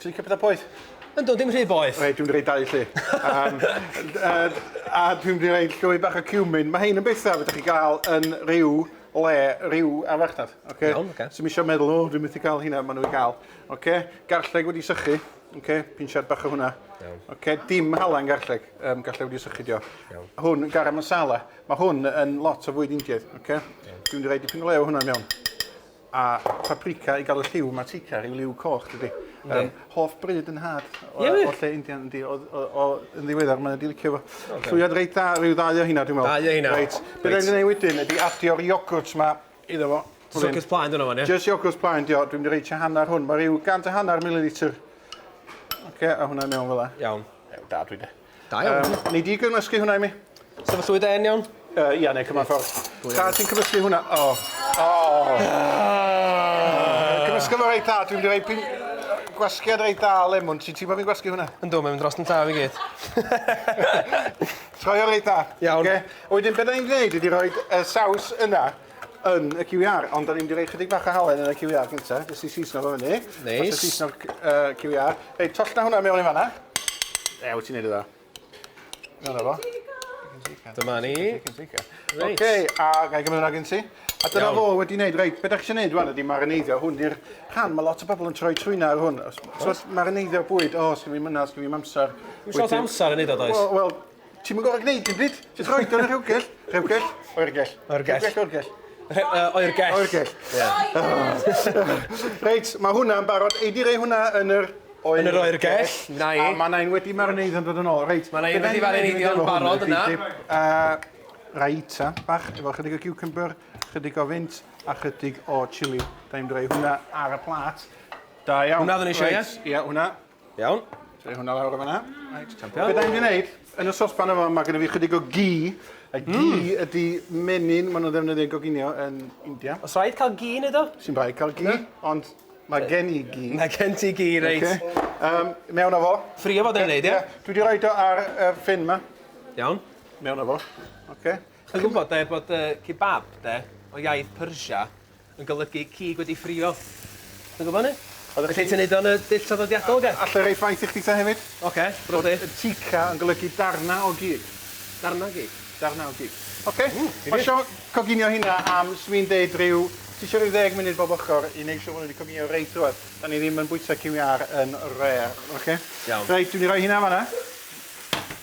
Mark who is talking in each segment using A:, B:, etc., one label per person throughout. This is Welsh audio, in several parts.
A: Ti'n licio pethau poeth? Yndw, dim rhy boeth.
B: Reit, dwi'n mynd i roi dau lle.
A: um, uh, a dwi'n mynd i roi llwy bach o cumin. Mae hyn yn bethau fydych chi gael yn rhyw le, rhyw afartaf. Okay? Iawn, okay. So mi eisiau
B: meddwl, o, oh, dwi'n
A: mynd i gael hynna, maen nhw'n gael. Okay? Garlleg wedi sychu. Okay? Pinsiad bach o hwnna. Iawn. Okay? Dim halen garlleg. Um, garlleg wedi sychu dio. Iawn. Hwn, garam masala. Mae hwn yn lot o fwyd Indiaidd. Okay? Iawn. Dwi'n mynd i roi dipyn o lew hwnna mewn. A paprika i gael y lliw mae tika rhyw liw coch dydy. Yndi. Yym, hoff bryd yn nhad o, Ie, wir? o lle Indian yndi, o, o, o, yn ddiweddar mae wedi licio fo. Llwyad reit dda, rhyw ddau o hynna dwi'n meddwl. Dau o hynna. Reit. Be Reit. rhaid
B: gwneud wedyn
A: ydy addio'r iogwrt ma iddo fo. Jyst iogwrt plaen dyna fo,
B: ie? Jyst iogwrt plaen dio, dwi'n
A: mynd i roi tua hanner hwn, mae rhyw gant a hanner mililitr. Oce, a hwnna i mewn fel 'a. Iawn. Ew, da dwi
B: de.
A: Da iawn. Um, nei di
B: gymysgu hwnna i
A: mi? Sefyllwyd e yn iawn?
B: Uh, ia, neu cymryd ffordd.
A: Da, ti'n cymysgu hwnna? O. Oh. O. Oh. Uh. Cymysgu fo reit dda, dwi'n mynd i rei pin... Gwasgiad reit dda o lemwn, ti'n teimlo fi'n gwasgu hwnna? Ynddo, mae'n mynd dros yn taf i
B: gyd.
A: Troi o reit dda. Iawn. Okay. Wedyn,
B: beth ni'n
A: gwneud ydy rhoi y saws yna. yn y QER, ond da ni'n mynd i roi chydig bach o halen yn y QER gynta, jyst i seasno fo fyny. Neis. Nice. Seasno'r uh, QER. Reit, toll na hwnna mewn i fanna. E, wyt ti'n neud o dda. Dyna fo. Dyma
B: ni. Reit. Oce,
A: a gai gymryd hwnna gen ti? A dyna fo wedi wneud, reit, beth ydych chi'n gwneud rwan ydy marineiddio, hwn di'r rhan, mae lot o bobl yn troi trwyna ar hwn. So, marineiddio'r bwyd, o, sgyn fi myna, sgyn fi amser. Mae'n siarad amser yn
B: neud o, does? Wel, Ti'm yn
A: gorfod gwneud dim byd, jyst rhoid o yn y rhewgell. Rhewgell, oergell. Oergell. Rhewgell,
B: oergell.
A: Rhe- yy, oergell. Oergell. Ie. Reit, mae hwnna'n barod. Ei di rei hwnna yn yr oer... Yn yr oergell.
B: Na i. A mae na
A: un wedi marineidd yn dod yn ôl. Reit. Mae na un wedi marineidio yn
B: barod yna. A raita
A: bach efo chydig o cucumber, chydig o fynt a chydig o chili. Da ni'n mynd i roi hwnna ar y plat. Da iawn. Hwnna oedden ni eisiau, ie? Reit, Ie,
B: hwnna. Iawn.
A: Troi
B: hwnna lawr o
A: fanna. Reit, champion. Be da ni'n mynd i
B: wneud,
A: yn y sosban yma, mae gen i fi chydig o gi. A gi mm. ydy menyn maen nhw'n ddefnyddio goginio yn India. Os rhaid cael gi yn
B: edo? Sy'n rhaid cael gi,
A: ond mae gen i gi. Mae gen ti gi, reit.
B: Okay. Um, mewn o fo.
A: Ffri o fod yn wneud, ie?
B: Dwi wedi rhoi do ar
A: y ffin yma. Iawn.
B: Mewn o fo.
A: Okay. Chi'n gwybod,
B: de, bod uh, kebab, de, o iaith Persia, yn golygu cig wedi ffrio. Ti'n gwybod hynny? Oeddech chdi... Felly ti'n neud o yn y dull traddodiadol oce? Alla i roi ffaith i chdi ta hefyd?
A: Oce, rwyf fi. Bod
B: chica yn golygu
A: darna o gig. Darna o gig?
B: Darna o gig.
A: Oce? Ww, difyr. Pasio coginio hynna am, swn i'n deud, ryw, ti isio ryw ddeg munud bob ochr i neud siŵr fod nhw wedi coginio reit drwadd. Dan ni ddim yn bwyta ciwiâr yn rare, oce? Iawn. Reit, dwi mynd i roi
B: hynna yn fan'na.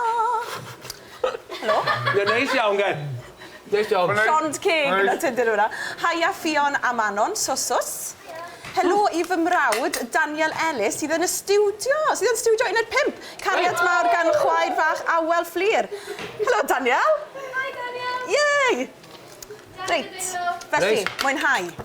C: O! Helo. Ie neis iawn gen.
B: Neis iawn.
C: Llond ceg yn y
B: tŷ
C: dyddiwr yma. Haia Ffion a Manon, swsws. Haia. Helo i fy mrawd Daniel Ellis sydd yn y stiwdio, sydd yn stiwdio un o'r pump. Cariad mawr gan chwaer fach Awel Fflur. Helo Daniel. Hi
D: Daniel.
C: Yay! Reit,
D: felly,
C: mwynhau.